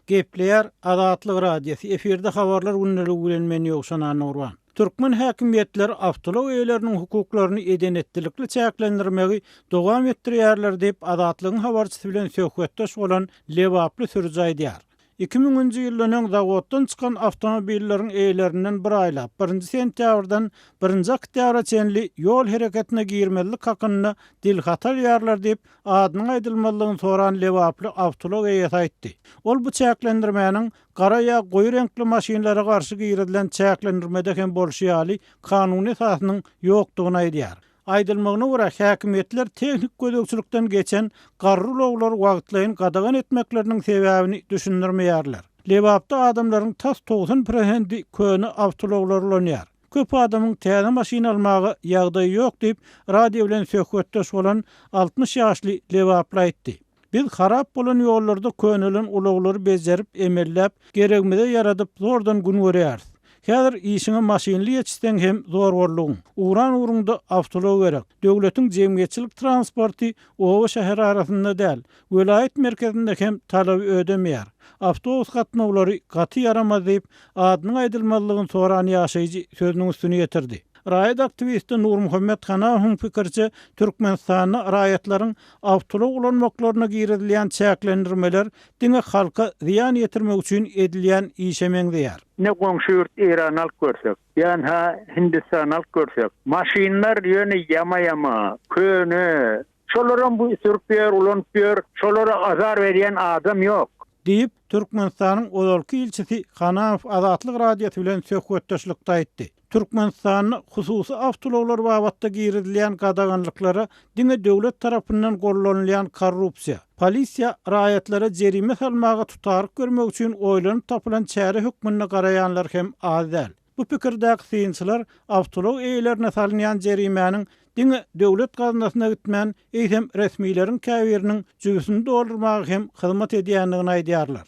Gepleýär Azatlyk Radiosy, efirde Habarlar gündeligi bilen men Ýowşan Annagurban. Türkmen häkimiýetleri awtoulag eýeleriniň hukuklaryny eden-etdilikli çäklendirmegi dowam etdirýärler diýip, Azatlygyň habarçysy bilen söhbetdeş bolan lebaply sürüji aýdýar. Iki müň nji ýyldan öň zawoddan çykan awtomobilleriň eýelerinden bir aýlap, birinji sentýabrdan birinji oktýabra çenli ýol hereketine girmezlik hakynda dil haty alýarlar diýip, Adynyň aýdylmazlygyny soran lebaply awtoulag eýesi aýtdy. Ol bu çäklendirmäniň gara ýa goýy reňkli maşynlara garşy girizilen çäklendirmede hem bolşy ýaly kanuny esasynyň ýokdugyny aýdýar. Aýdylmagyna görä, häkimiýetler tehniki gözegçilikden geçen garry ulaglary wagtlaýyn gadagan etmekleriniň sebäbini düşündirmeýärler. Lebapda adamlaryň tas togsan prosendi köne awtoulaglary ulanýar. Köp adamyň täze maşyn almaga ýagdaýy ýok diýip, radio bilen söhbetdeş bolan altmyş ýaşly lebaply aýtdy. Biz harap bolan ýollarda könelen ulaglary bejerip, emelläp, geregimize ýaradyp, zordan gün görýäris. Häzir işiňe maşynly ýetişseň hem zor boldugyň. Ugran ugrunda awtoulag gerek. Döwletiň jemgyýetçilik transporty oba-şäher arasynda däl, Welaýat merkezinde hem talaby ödemeýär. Awtobus gatnawlary gaty ýaramaz diýip, adynyň aýdylmazlygyny soran ýaşaýjy sözüniň üstüni ýetirdi. Raýat aktiwisti Nurmuhammet Hanafowyň pikiriçe, Türkmenistanda raýatlaryň awtoulag ulanmaklaryna girizilýän çäklendirmeler diňe halka zyýan ýetirmek üçin edilýän işe meňzeýär. Ine goňşy ýurt Eýrany alyp görsek, ýa-ha Hindistany alyp görsek, maşynlar ýöne ýama-ýama, köne, Şolaram bu sürüp ýör, ulanyp ýör, şolara azar berýän adam ýok. Diýip, Türkmenistanyň ozalky ilçisi Hanaow Azatlyk Radiosy bilen söhbetdeşlikde aýtdy. Türkmenistanda hususy awtoulaglar babatda girizilýän gadaganlyklara diňe döwlet tarapyndan gollanylýan korrupsiýa, polisiýa raýatlara jerime salmaga tutaryk bermek üçin oýlanyp tapylan çäre hökmünde garaýanlar hem az däl. Bu pikirdäki synçylar awtoulag eýelerine salynýan jerimäniň diňe döwlet gaznasyna gitmän, eýsem, resmileriň käbiriniň jübüsini doldurmaga hem hyzmat edýändigini aýdýarlar.